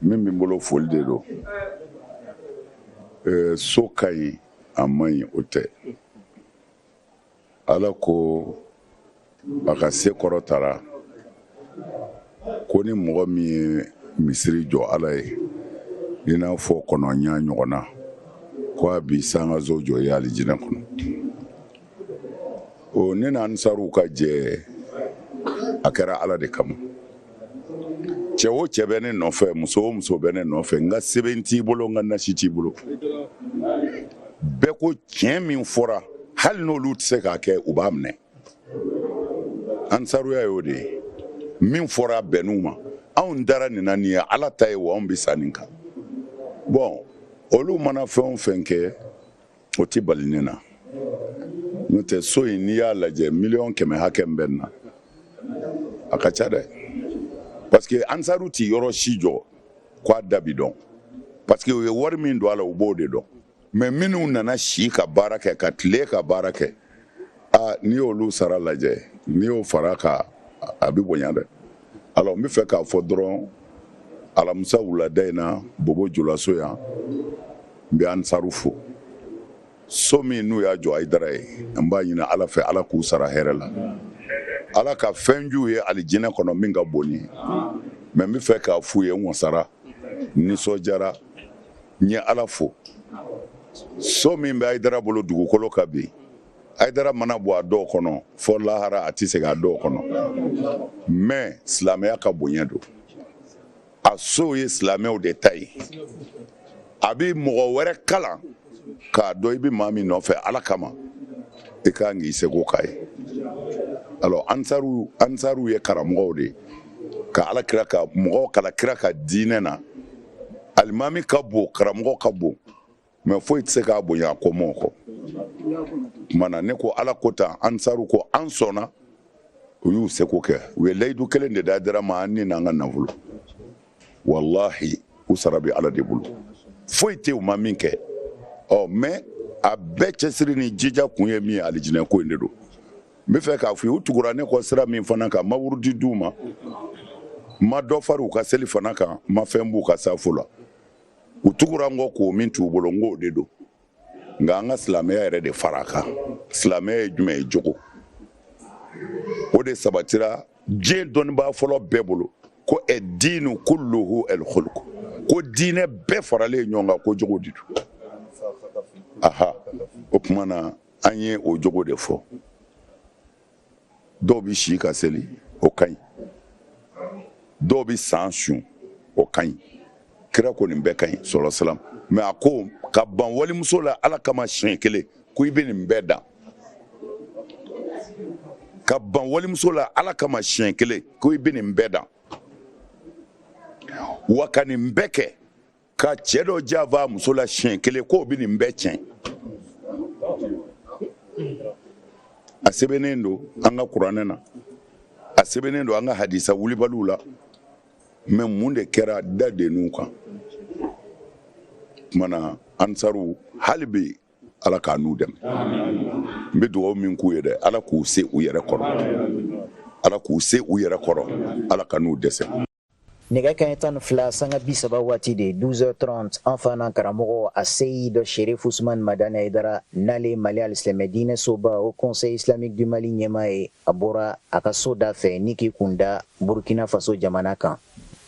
min bɛ n bolo foli de don eh, so ka ɲi a man ɲi o tɛ ala ko a ka se kɔrɔtara ko ni mɔgɔ min ye misiri jɔ ala ye i n'a fɔ kɔnɔ ɲaa ɲɔgɔn na ko a bi sankanso jɔ a ye alijinɛ kɔnɔ o ne n'ansaruw ka jɛ a kɛra ala de kama cɛ o cɛ bɛ ne nɔfɛ muso o muso bɛ ne nɔfɛ n ka sɛbɛn t'i bolo n ka nasi t'i bolo bɛɛ ko tiɲɛ min fɔra hali n'olu tɛ se k'a kɛ u b'a minɛ ansaruya y'o de ye min fɔra bɛn'u ma anw dara nin na nin ye ala ta ye wa anw bɛ sa nin kan bon olu mana fɛn o fɛn kɛ o tɛ bali ne na n'o tɛ so in n'i y'a lajɛ miliyɔn kɛmɛ hakɛ min bɛ nin na a ka ca dɛ parce que ansaru tɛ yɔrɔ si jɔ k'a da bi dɔn parce que u ye wari min don a la u b'o de dɔn mais minnu nana si ka baara kɛ ka tile ka baara kɛ aa n'i y'olu sara lajɛ n'i y'o fara a kan a bɛ bonya dɛ alors n bɛ fɛ k'a fɔ dɔrɔn alamisa wulada in na bobo julaso yan n bɛ ansaru fo so min n'u y'a jɔ ayidara ye n b'a ɲini ala fɛ ala k'u sara hɛrɛ la ala ka fɛn j'u ye alijinɛ kɔnɔ min ka bon nin ye mais n bɛ fɛ k'a f'u ye n wasara nisɔndiyara n ye ala fo so min bɛ ayidara bolo dugukolo kan bi ayidara mana bɔ a dɔw kɔnɔ fo lahara a tɛ segin a dɔw kɔnɔ mais silamɛya ka bonya don a sow ye silamɛw de ta ye a bɛ mɔgɔ wɛrɛ kalan k'a dɔn i bɛ maa min nɔfɛ ala kama i ka kan k'i seko k'a ye alors ansaruw ye karamɔgɔw de ye ka ala kira ka mɔgɔw kalan kira ka diinɛ na alimami ka bon karamɔgɔ ka bon mais foyi tɛ se k'a bonya a kɔmɔɔw kɔ o tuma na ne ko ala ko tan ansaru ko an sɔnna u y'u seko kɛ u ye layidu kelen de d'ayidara ma an ni n'an ka nafolo walahi u sara bɛ ala de bolo foyi tɛ u ma min kɛ ɔ mais a bɛɛ cɛsiri ni jija kun ye min ye alijinɛ ko in de don n bɛ fɛ k'a fɔ u tugura ne kɔ sira min fana kan n ma wurudi di u ma n ma dɔ far'u ka seli fana kan n ma fɛn b'u ka safo la u tugura n kɔ ko min t'u bolo n k'o de don nka an ka silamɛya yɛrɛ de fara a kan silamɛya ye jumɛn ye jogo o de sabatira diɲɛ dɔnnibaa fɔlɔ bɛɛ bolo ko addiinu kulluhu alkhuluku ko diinɛ bɛɛ faralen ɲɔgɔn kan ko jogo de don aha o tuma na an ye o jogo de fɔ dɔw bɛ si ka seli o ka ɲi dɔw bɛ san sun o ka ɲi kira ko nin bɛɛ ka ɲi sala salam mais a ko ka ban walimuso la ala kama siɲɛ kelen ko i bɛ nin bɛɛ dan ka ban walimuso la ala kama siɲɛ kelen ko i bɛ nin bɛɛ dan wa ka nin bɛɛ kɛ ka cɛ dɔ janfa a muso la siɲɛ kelen k'o bɛ nin bɛɛ tiɲɛ a sɛbɛnnen don an ka kuranɛ na a sɛbɛnnen don an ka hadisa wulibaliw la mais mun de kɛra da denninw kan kumana ansaru hali bi ala k'a n'u dɛmɛ n bɛ dugawu min k'u ye dɛ ala k'u se u yɛrɛ kɔrɔ ala k'u se u yɛrɛ kɔrɔ ala kan'u dɛsɛ nɛgɛ kanɲɛ tan ni fila sanga bi saba waati de 12h30 an fa n'an karamɔgɔ a seyid sherif usman madani ayidara n'ale ye mali alisilɛmɛ diinɛ soba haut conseil islamique du mali ɲɛmaa ye a bɔra a ka so da fɛ ni k'i kun da burkina faso jamana kan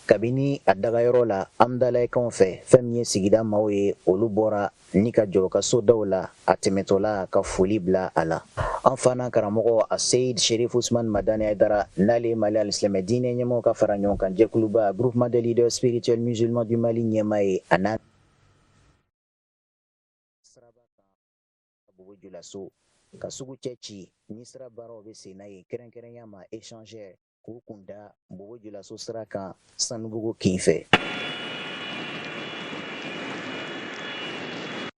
kabini a dagayɔrɔ la amdalayi kin fɛ fɛn min ye sigida maaw ye olu bɔra ni ka jɔ o ka so daw la a tɛmɛtɔla ka foli bila a la an fa n'an karamɔgɔ a seyid sherif usman madani ayidara n'ale ye mali alisilɛmɛ diinɛ ɲɛmaaw ka fara ɲɔgɔn kan jɛkuluba groupement des leaders spirituels musulmans du mali ɲɛmaa ye a n'a julaso ka sugu cɛ ci ni sira baaraw bɛ sen na yen kɛrɛnkɛrɛnya ma échangeur k'u kun da bobo julaso sira kan sanubugu kin fɛ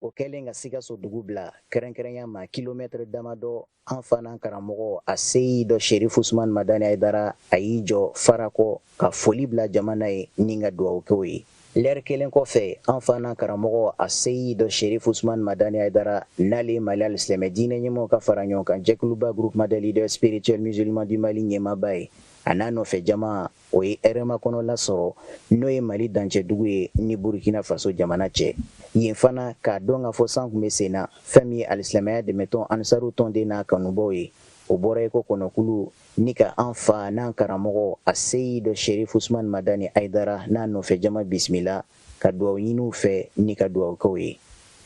o kɛlen ka sikaso dugu bila kɛrɛnkɛrɛnya ma kilomɛtɛrɛ damadɔ an fa n'an karamɔgɔ a seyid sherif usman madani ayidara a y'i jɔ farakɔ ka foli bila jama na yen ni ka dugawu kɛ u ye Lɛri kelen kɔfɛ an fa n'an karamɔgɔ a seyid sherif usman madani ayidara n'ale ye mali alisilamɛ diinɛ ɲɛmaaw ka fara ɲɔgɔn kan jɛkuluba groupement des leaders spirituels musulmans du mali ɲɛmaaba ye a n'a nɔfɛ jama o ye hɛrɛmakɔnɔ lasɔrɔ n'o ye mali dancɛdugu ye ni burukina faso jamana cɛ yen fana k'a dɔn k'a fɔ san kun bɛ sen na fɛn min ye alisilamɛya dɛmɛtɔn ansaru tɔnden n'a kanubaw ye o bɔra iko kɔnɔkulu Ni ka an fa n'an karamɔgɔ a seyid sherif usman madani ayidara n'a nɔfɛ jama bisimila ka dugawu ɲini u fɛ ni ka dugawu kɛ u ye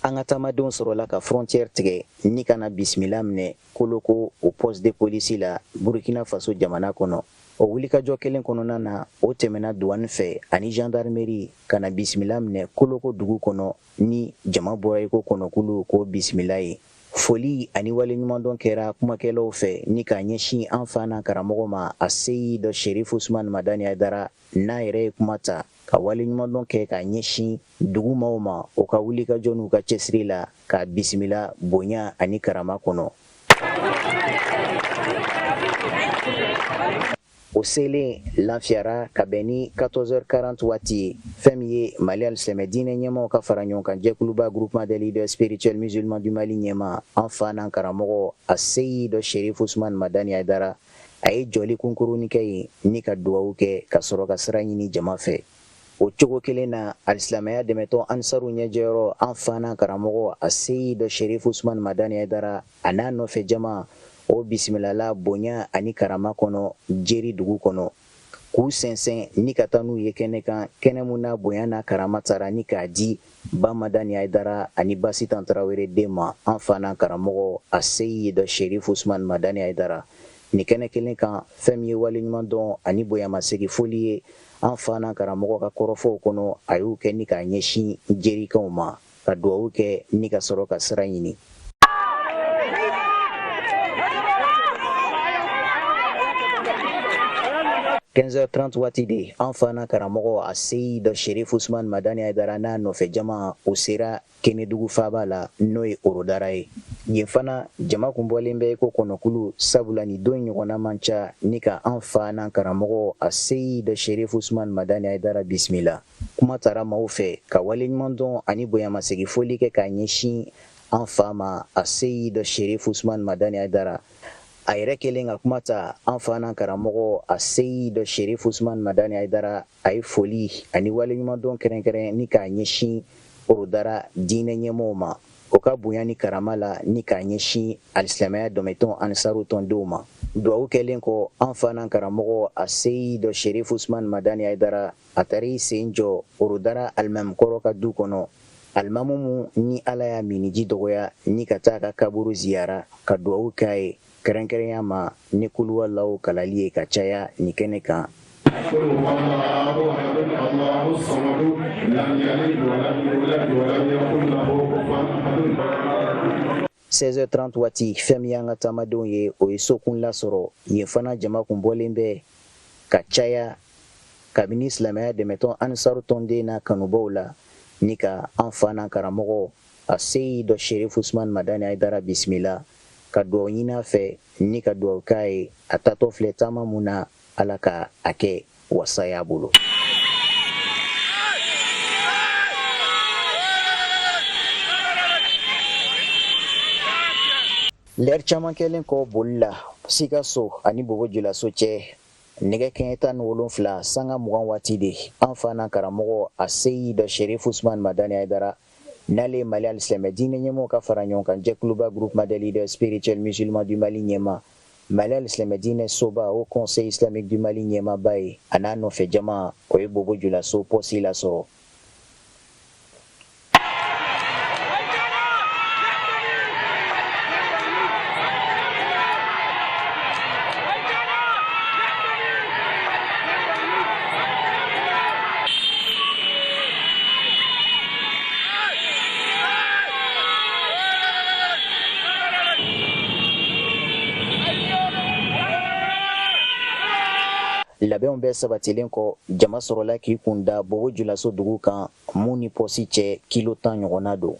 an ka taamadenw sɔrɔla ka frontière tigɛ ni ka na bisimila minɛ koloko o poste de police la burukina faso jamana kɔnɔ o wulikajɔ kelen kɔnɔna na o tɛmɛna douane fɛ ani jandarimeri ka na bisimila minɛ koloko dugu kɔnɔ ni jama bɔra iko kɔnɔkulu k'o bisimila yen Foli ani waleɲumandɔn kɛra kumakɛlaw fɛ ni k'a ɲɛsin an fa n'an karamɔgɔ ma aseyid serifu usman madani ayidara n'a yɛrɛ ye kuma ta ka waleɲumandɔn kɛ k'a ɲɛsin dugu maaw ma o ka wulikajɔ n'u ka cɛsiri la k'a bisimila bonya ani karama kɔnɔ O selen Lanfiyara ka bɛn ni 14h40 waati ye, fɛn min ye Mali alisilamɛ diinɛ ɲɛmaaw ka fara ɲɔgɔn kan jɛkuluba groupement des leaders spirituels musulmans du Mali ɲɛmaa, an fa n'an karamɔgɔ Aseyid Serif Usumani Madani Ayidara, a ye jɔli kunkurunnin kɛ yen ni ka dugawu kɛ, ka sɔrɔ ka sira ɲini jama fɛ. O cogo kelen na alisilamɛya dɛmɛtɔn ansaru ɲɛjɛyɔrɔ an fa n'an karamɔgɔ aseyid serifu usumani madani ayidara a n'a nɔfɛ jama o bisimilala bonya ani karama kɔnɔ jeri dugu kɔnɔ k'u sɛnsɛn ni ka taa n'u ye kɛnɛ kan kɛnɛ min na bonya ni karama tara ni k'a di ba madani ayidara ani ba sitan tarawele den ma an fa n'an karamɔgɔ aseyid serifu usumani madani ayidara nin kɛnɛ kelen kan fɛn min ye waleɲuman dɔn ani bonyamasegin foli ye an fa n'an karamɔgɔ ka kɔrɔfɔw kɔnɔ a y'u kɛ ni k'a ɲɛsin jerikaw ma ka duwawu kɛ ni ka sɔrɔ ka sira ɲini 15h30 waati de an fa n'an karamɔgɔ aseyid sherif usman madani ayidara n'a nɔfɛ jama o sera Kenedugu faaba la n'o ye Orodara ye. Yen fana, jama kun bɔlen bɛ i ko kɔnɔkulu sabula nin don ɲɔgɔnna man ca ni ka an fa n'an karamɔgɔ Aseyid Sherif Usman Madani Ayidara bisimila. Kuma tara maaw fɛ ka waleɲumandɔn ani bonyamasegi foli kɛ k'a ɲɛsin an fa ma Aseyid Sherif Usman Madani Ayidara. A yɛrɛ kɛlen ka kuma ta, an fa n'an karamɔgɔ Aseyid Sherif Usman Madani Ayidara a ye foli ani waleɲumandɔn kɛrɛnkɛrɛn ni k'a ɲɛsin orodara diinɛ ɲɛmɔgɔw ma o ka bonya ni karama la ni k'a ɲɛsin alisilamɛya dɛmɛtɔn ansaru tɔndenw ma duwawu kɛlen kɔ an fa n'an karamɔgɔ aseyid sherif usman madani ayidara a taar'i sen jɔ orodara alimami kɔrɔ ka du kɔnɔ alimamu min ni ala y'a miniji dɔgɔya ni ka taa k'a kaburu ziyara ka duwawu k'a ye kɛrɛnkɛrɛnya ma ni kuluwalaw kalali ye ka caya nin kɛnɛ kan 16h30 waati fɛn min y'an ka taamadenw ye o ye sokun lasɔrɔ yen fana jama kun bɔlen bɛ ka caya kabini silamɛya dɛmɛtɔn ansaru tɔnden n'a kanubaw la ni ka an fa n'an karamɔgɔ Aseyid sherif usman madani ayidara bisimila ka dugaw ɲini a fɛ ni ka dugaw k'a ye a taatɔ filɛ taama mun na ala ka a kɛ wasa y'a bolo lɛri caman kɛlen kɔ boli la sikaso ani bobo julaso cɛ nɛgɛ kanɲɛ tan ni wolonfila sanga mugan waati de an fa n'an karamɔgɔ aseyid sherif usman madani ayidara N'ale Mali alisilamɛ diinɛ ɲɛmɔgɔw ka fara ɲɔgɔn kan jɛkuluba Groupement des leaders spirituels musulmans du Mali ɲɛmaa, Mali alisilamɛ diinɛ soba Haut conseil islamique du Mali ɲɛmaaba ye a n'a nɔfɛ jama, o ye Bobo Julaso pɔsi lasɔrɔ. Labɛnw bɛɛ sabatilen kɔ jama sɔrɔla k'i kun da bobo julaso dugu kan mun ni pɔsi cɛ kilo tan ɲɔgɔnna don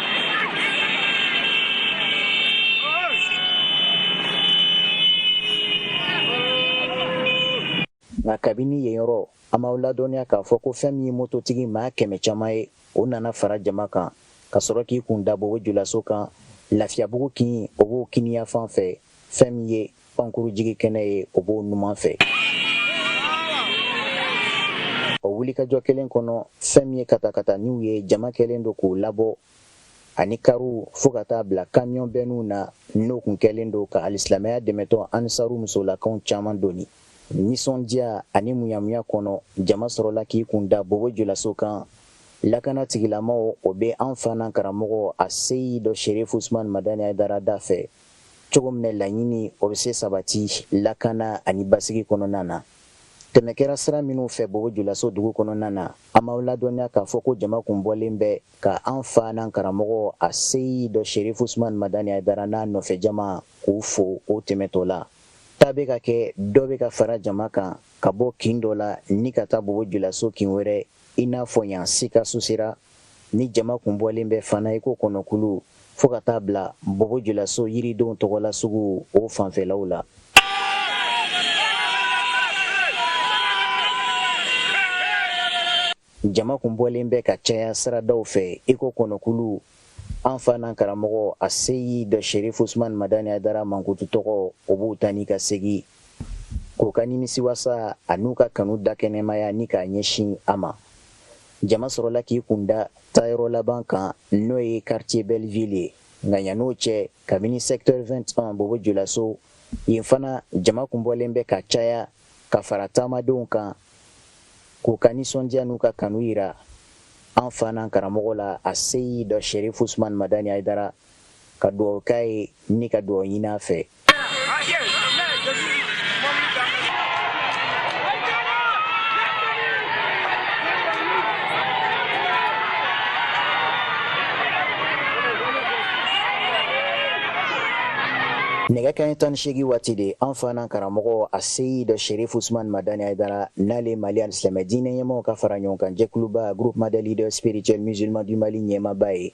nka kabini yen yɔrɔ an b'aw ladɔnniya k'a fɔ ko fɛn min ye mototigi maa kɛmɛ caman ye o nana fara jama kan ka sɔrɔ k'i kun da bobo julaso kan lafiyabugu kin o b'o kiniyafan fɛ fɛn min ye pankuru jigi kɛnɛ ye o b'o numan fɛ o wulikajɔ kelen kɔnɔ fɛn min ye katakataniw ye jama kɛlen don k'u labɔ ani kariw fo ka taa bila kamiyɔn bɛnniw na n'o kun kɛlen don ka alisilamɛya dɛmɛtɔn ansaru musolakaw caman doni nisɔndiya ani munyamunya kɔnɔ jama sɔrɔla k'i kun da bobo julaso kan lakana tigilamaw o bɛ an fa n'an karamɔgɔ aseyid sherif usman madani ayidara dafɛ cogo min na laɲini o bɛ se sabati lakana ani basigi kɔnɔna na tɛmɛ kɛra sira minnu fɛ bobo julaso dugu kɔnɔna na an b'aw ladɔnniya k'a fɔ ko jama kun bɔlen bɛ ka an fa n'an karamɔgɔ aseyid sherif usman madani ayidara n'a nɔfɛ jama k'u fo o tɛmɛtɔ la taa bɛ ka kɛ dɔ bɛ ka fara jama kan ka bɔ kin dɔ la ni ka taa bobo julaso kin wɛrɛ i n'a fɔ yan sikaso sira Ni jama kun bɔlen bɛ fana iko kɔnɔkulu fo ka taa bila bobo julaso yiridenw tɔgɔla sugu o fanfɛlaw la. Jama kun bɔlen bɛ ka caya siradaw fɛ iko kɔnɔkulu an fa n'an karamɔgɔ aseyid sherif usman madani ayidara mankutu tɔgɔ u b'u ta ni ka segin. k'u ka nimisiwasa an'u ka kanu dakɛnɛmaya ni k'a ɲɛsin a ma jama sɔrɔla k'i kunda taayɔrɔ laban kan n'o ye quartier belleville ye nka yann'o cɛ kabini secteur 21 bobo julaso yen fana jama kun bɔlen bɛ ka caya ka fara taamadenw kan k'u ka nisɔndiya n'u ka kanu yira an fa n'an karamɔgɔ la aseyidɔ sherif usman madani haidara ka dugawu k'a ye ni ka dugawu ɲini a fɛ nɛgɛ kanɲɛ tan ni seegin waati de an fa n'an karamɔgɔ aseyidɔ sherif usman madani haidara n'ale mali alisilamɛ diinɛ ɲɛmaw ka fara ɲɔgɔn kan jɛkuluba groupement des leaders spirituels musulmans du mali ɲɛmaba ye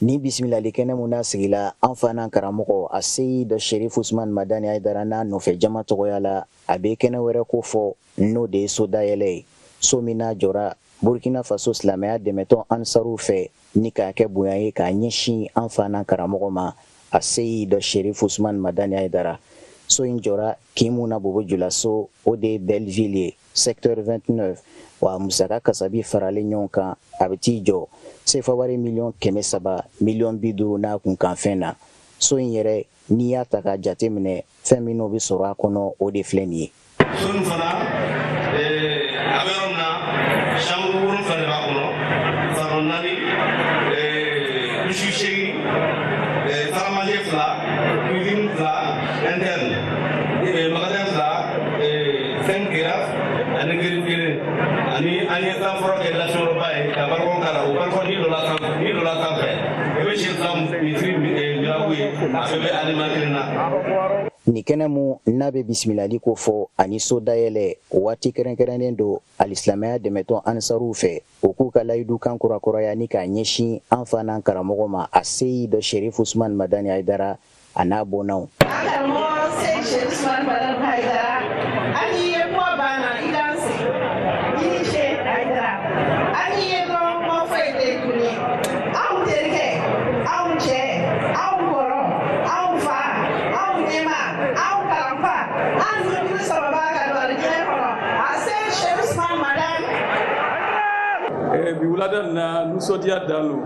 Ni bisimilali kɛnɛ min n'a sigila an fa n'an karamɔgɔ aseyidɔ sherif usman madani haidara n'a nɔfɛ jama tɔgɔya la a bɛ kɛnɛ wɛrɛ kofɔ n'o de ye so dayɛlɛ ye so min n'a jɔra burukina faso silamɛya dɛmɛtɔn ansaruw fɛ ni k'a kɛ bonya ye k'a ɲɛsin an fa n'an karamɔgɔ ma aseyidɔ sherif usman madani haidara so in jɔra kin mu na bobo julaso o de ye belleville ye secteur 29 wa musaka kasabi faralen ɲɔgɔn kan a bɛ t'i jɔ sefawari miliyɔn kɛmɛ saba miliyɔn bi duuru n'a kunkanfɛn na so in yɛrɛ n'i y'a ta k'a jate minɛ fɛn minnu bɛ sɔrɔ a kɔnɔ o de filɛ nin ye so nin fana eh, a bɛ yɔrɔ min na chambre wolonwula de b'a kɔnɔ salon naani eh, douche seegin eh, salle à manger fila cuisine fila interne magasin fila cinq terrasses ani giri kelen ani an ye san fɔlɔ kɛ lasɔrɔba ye ka balcon k'a la o balcon ni dɔ la sanfɛ ni dɔ la sanfɛ i bɛ sisan misiri girabu ye a bɛɛ bɛ alima kelen na nin kɛnɛ mu n'a bɛ bisimilali kofɔ ani so dayɛlɛ waati kɛrɛnkɛrɛnnen don alisilamaya dɛmɛtɔn ansaruw fɛ u k'u ka layidu kan kurakuraya ni k'a ɲɛsin an fa n'an karamɔgɔ ma aseyidɔ sherif usman madani haidara a n'a bɔnnaw wulada na nisɔndiya dan don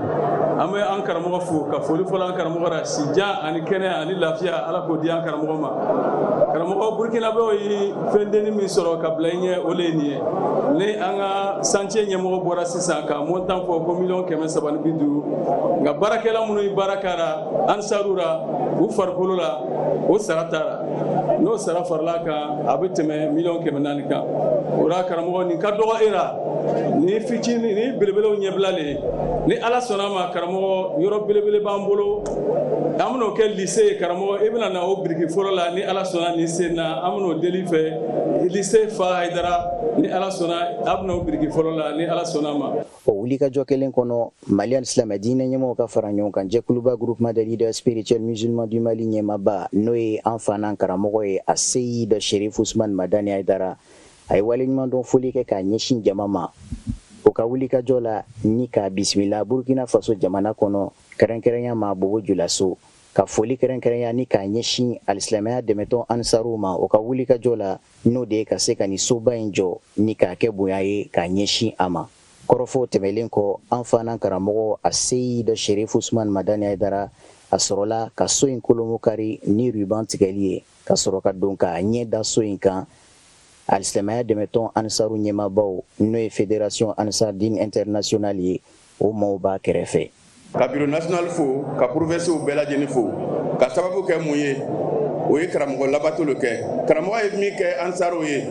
an bɛ an karamɔgɔ fo ka foli fɔlɔ an karamɔgɔ Si jan ani kɛnɛya ani lafiya ala k'o di an karamɔgɔ ma karamɔgɔ burukinabew ye fɛn dennin min sɔrɔ ka bila i ɲɛ o le ye nin ye ni an ka santiye ɲɛmɔgɔ bɔra sisan ka montant fɔ ko miliyɔn kɛmɛ saba ni bi duuru nka baarakɛla minnu ye baara k'a ra ansaru ra u farikolo la o sara t'a ra n'o sara farala kan a bɛ tɛmɛ miliyɔn kɛmɛ naani kan o ra karamɔgɔ nin ka dɔgɔ e la ni fitinin ni belebelew ɲɛbila le ni ala sɔnna ma karamɔgɔ yɔrɔ belebele b'an bolo an bɛn'o kɛ lise ye karamɔgɔ i bɛna na o biriki fɔlɔ la ni ala sɔnna nin sen na an bɛn'o deli fɛ lise fa hayidara ni ala sɔnna a bɛn'o biriki fɔlɔ la ni ala sɔnna ma o wulikajɔ kelen kɔnɔ mali alisilamɛ diinɛ ɲɛmɔgɔw ka fara ɲɔgɔn kan jɛkuluba groupement des leaders spirituels musulmans du mali ɲɛmaaba n'o ye an fa n'an karamɔgɔ ye a seyid sherif usman madani hayidara a ye waleɲuman dɔn foli kɛ k'a ɲɛsin jama ma o ka wulikajɔ la ni k'a bisimila burkina faso jamana kɔnɔ kɛrɛnkɛrɛnya ma bobo julaso ka foli kɛrɛnkɛrɛnya ni k'a ɲɛsin alisilamɛya dɛmɛtɔn ansaruw ma o ka wulikajɔ la n'o de ye ka se ka ni soba in jɔ ni k'a kɛ bonya ye k'a ɲɛsin a ma kɔrɔfɔw tɛmɛlen kɔ an fa n'an karamɔgɔ a seyid sherif usman madani aidara a sɔrɔla ka so in kolomokari ni ruban tigɛli ye ka sɔrɔ ka don k'a ɲɛ da so in kan alisilamaya dɛmɛtɔn ansaru ɲɛmaabaw n'o ye federasiyɔn ansardin intɛrinasiyonali ye o maaw b'a kɛrɛfɛ ka biro nasiyonali fo ka porovɛnsiw bɛɛ lajɛlen fo ka sababu kɛ mun ye o ye karamɔgɔ labato lo kɛ karamɔgɔ ye min kɛ ansaruw ye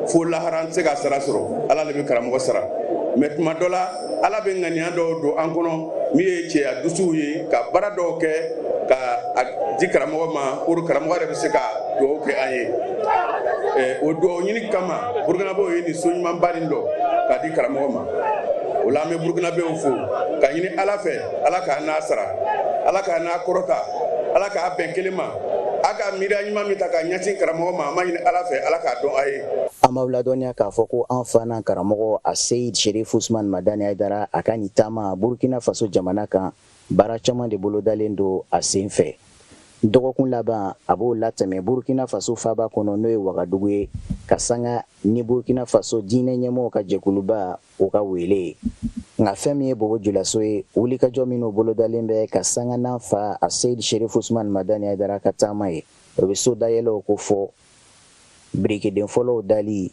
fo lahara an tɛ se k'a sara sɔrɔ ala le bɛ karamɔgɔ sara mɛ tuma dɔ la Ala bɛ ŋaniya dɔw don an kɔnɔ min ye cɛya dusuw ye ka baara dɔw kɛ ka a di karamɔgɔ ma pour karamɔgɔ yɛrɛ bɛ se ka dugawu kɛ an ye o dugawu ɲini kama burukinabew ye nin so ɲumanba nin dɔ k'a di karamɔgɔ ma o la an bɛ burukinabew fo ka ɲini Ala fɛ Ala k'a n'a sara Ala k'a n'a kɔrɔta Ala k'a bɛn kelen ma a ka miiriya ɲuman min ta k'a ɲɛsin karamɔgɔ ma an b'a ɲini Ala fɛ Ala k'a dɔn a ye an b'aw ladɔnniya k'a fɔ ko an fa n'an karamɔgɔ a seyid sherif usman madani aidara a ka nin taama burkina faso jamana kan baara caman de bolodalen don a sen fɛ dɔgɔkun laban a b'o latɛmɛ burkina faso faaba kɔnɔ n'o ye wagadugu ye ka sanga ni burkina faso diinɛ ɲɛmɔgɔw ka jɛkuluba o ka weele ye nka fɛn min ye bobo julaso ye wulikajɔ minw bolodalen bɛ ka sanga n'an fa a seyid sherif usman madani aidara ka taama ye o bɛ so dayɛlɛw kofɔ birikiden fɔlɔw dali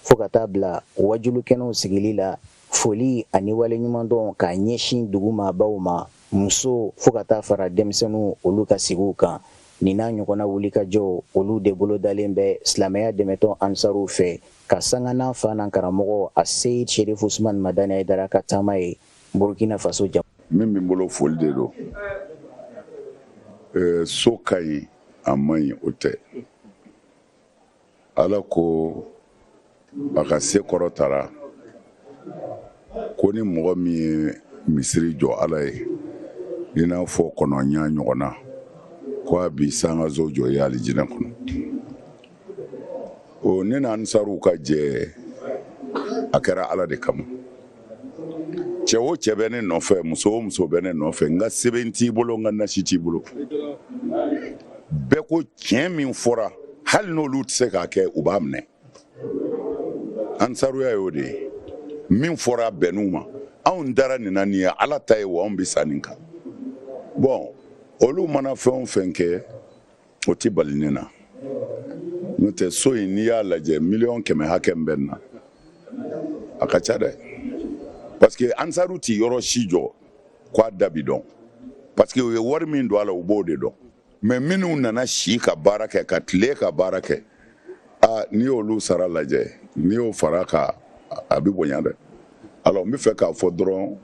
fo ka taa bila wajulukɛnɛw sigili la foli ani waleɲumandɔn k'a ɲɛsin dugu maabaw ma muso fo ka taa fara denmisɛnninw olu ka sigiw kan nin n'a ɲɔgɔnna wulikajɔ olu de bolo dalen bɛ silamɛya dɛmɛtɔn ansaruw fɛ ka sanga n'an fa n'an karamɔgɔ aseyid sherifu usman madani ayidara ka taama ye burkina faso jamana min bɛ n bolo foli de don so ka ɲi a man ɲi o tɛ ala ko a ka se kɔrɔtara ko ni mɔgɔ min ye misiri jɔ ala ye i n'a fɔ kɔnɔ ɲaa ɲɔgɔnna ko a bi sankanso jɔ ye alijinɛ kɔnɔ o ne n'ansaruw ka jɛ a kɛra ala de kama cɛ o cɛ bɛ ne nɔfɛ muso o muso bɛ ne nɔfɛ n ka sɛbɛn t'i bolo n ka nasi t'i bolo bɛɛ ko tiɲɛ min fɔra hali n'olu tɛ se k'a kɛ u b'a minɛ ansaruya y'o de ye min fɔra bɛnn'u ma anw dara nin na nin ye ala ta ye wa anw bɛ sa nin kan bon olu mana fɛn o fɛn kɛ o tɛ bali ne na n'o tɛ so in n'i y'a lajɛ miliyɔn kɛmɛ hakɛ min bɛ nin na a ka ca dɛ parce que ansaru tɛ yɔrɔ si jɔ k'a da bi dɔn parce que u ye wari min don a la u b'o de dɔn mais minnu nana si ka baara kɛ ka tile ka baara kɛ aa n'i y'olu sara lajɛ n'i y'o fara kan a bɛ bonya dɛ alors n bɛ fɛ k'a fɔ dɔrɔn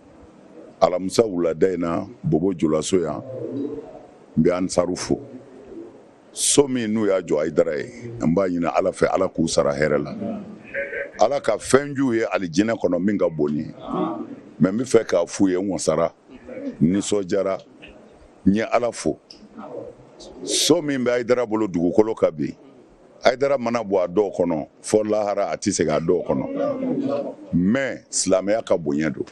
alamisa wulada in na bobo julaso yan n bɛ ansaru fo so min n'u y'a jɔ ayidara ye n b'a ɲini ala fɛ ala k'u sara hɛrɛ la ala ka fɛn j'u ye alijinɛ kɔnɔ min ka bon nin ye mais n bɛ fɛ k'a f'u ye n wasara nisɔndiyara n ye ala fo so min bɛ ayidara bolo dugukolo kan bi ayidara mana bɔ a dɔw kɔnɔ fɔ lahara a tɛ segin a dɔw kɔnɔ mais silamɛya ka bonya don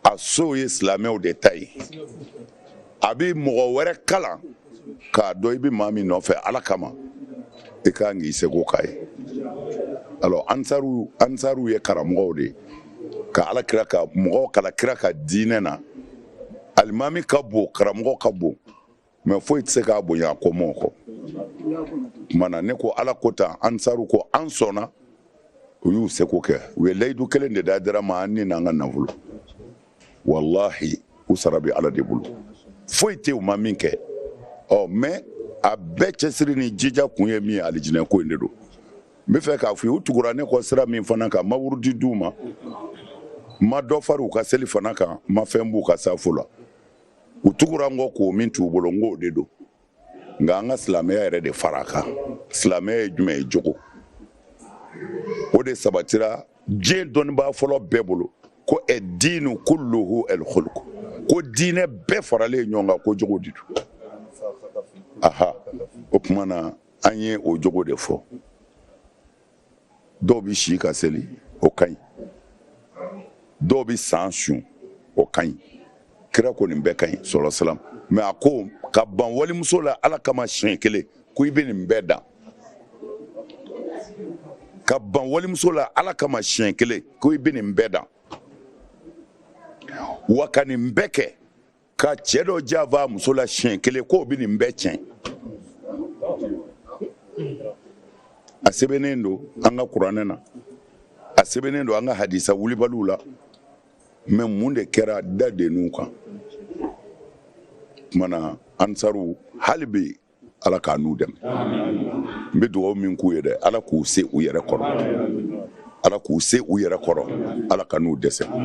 a sow ye silamɛw de ta ye a bɛ mɔgɔ wɛrɛ kalan k'a dɔn i bɛ maa min nɔfɛ ala kama i ka kan k'i seko k'a ye alors ansaru ansaru ye karamɔgɔw de ye ka ala kira ka mɔgɔw k'ala kira ka diinɛ na alimami ka bon karamɔgɔ ka bon mais foyi tɛ se k'a bonya a kɔmɔgɔw kɔ tuma na ne ko ala ko tan ansaru ko an sɔnna u y'u seko kɛ u ye layidu kelen de d'ayidara ma an ni n'an ka nafolo walahi u sara bɛ ala de bolo foyi tɛ u ma min kɛ ɔ mais a bɛɛ cɛsiri ni jija kun ye min ye alijinɛ ko in de don n bɛ fɛ k'a fɔ u tugura ne kɔ sira min fana kan n ma wurudi di u ma n ma dɔ fara u ka seli fana kan n ma fɛn b'u ka safo la u tugura n kɔ ko min t'u bolo n k'o de don nka an ka silamɛya yɛrɛ de fara a kan silamɛya ye jumɛn ye jogo o de sabatira diɲɛ dɔnnibaa fɔlɔ bɛɛ bolo ko adiinu kulluhu alkuluku ko diinɛ bɛɛ faralen ɲɔgɔn kan ko jogo de don aha o tuma na an ye o jogo de fɔ dɔw bɛ si ka seli o ka ɲi dɔw bɛ san sun o ka ɲi kira ko nin bɛɛ ka ɲi sala salam mɛ a ko ka ban walimuso la ala kama siɲɛ kelen ko i bɛ nin bɛɛ dan ka ban walimuso la ala kama siɲɛ kelen ko i bɛ nin bɛɛ dan wa ka nin bɛɛ kɛ ka cɛ dɔ janfa a muso la siɲɛ kelen k'o bɛ nin bɛɛ tiɲɛ a sɛbɛnnen don an ka kuranɛ na a sɛbɛnnen don an ka hadisa wulibaliw la mɛ mun de kɛra da denninw kan kumana ansaru hali bi ala k'an n'u dɛmɛ n bɛ dugawu min k'u ye dɛ ala k'u se u yɛrɛ kɔrɔ ala k'u se u yɛrɛ kɔrɔ ala kan'u dɛsɛ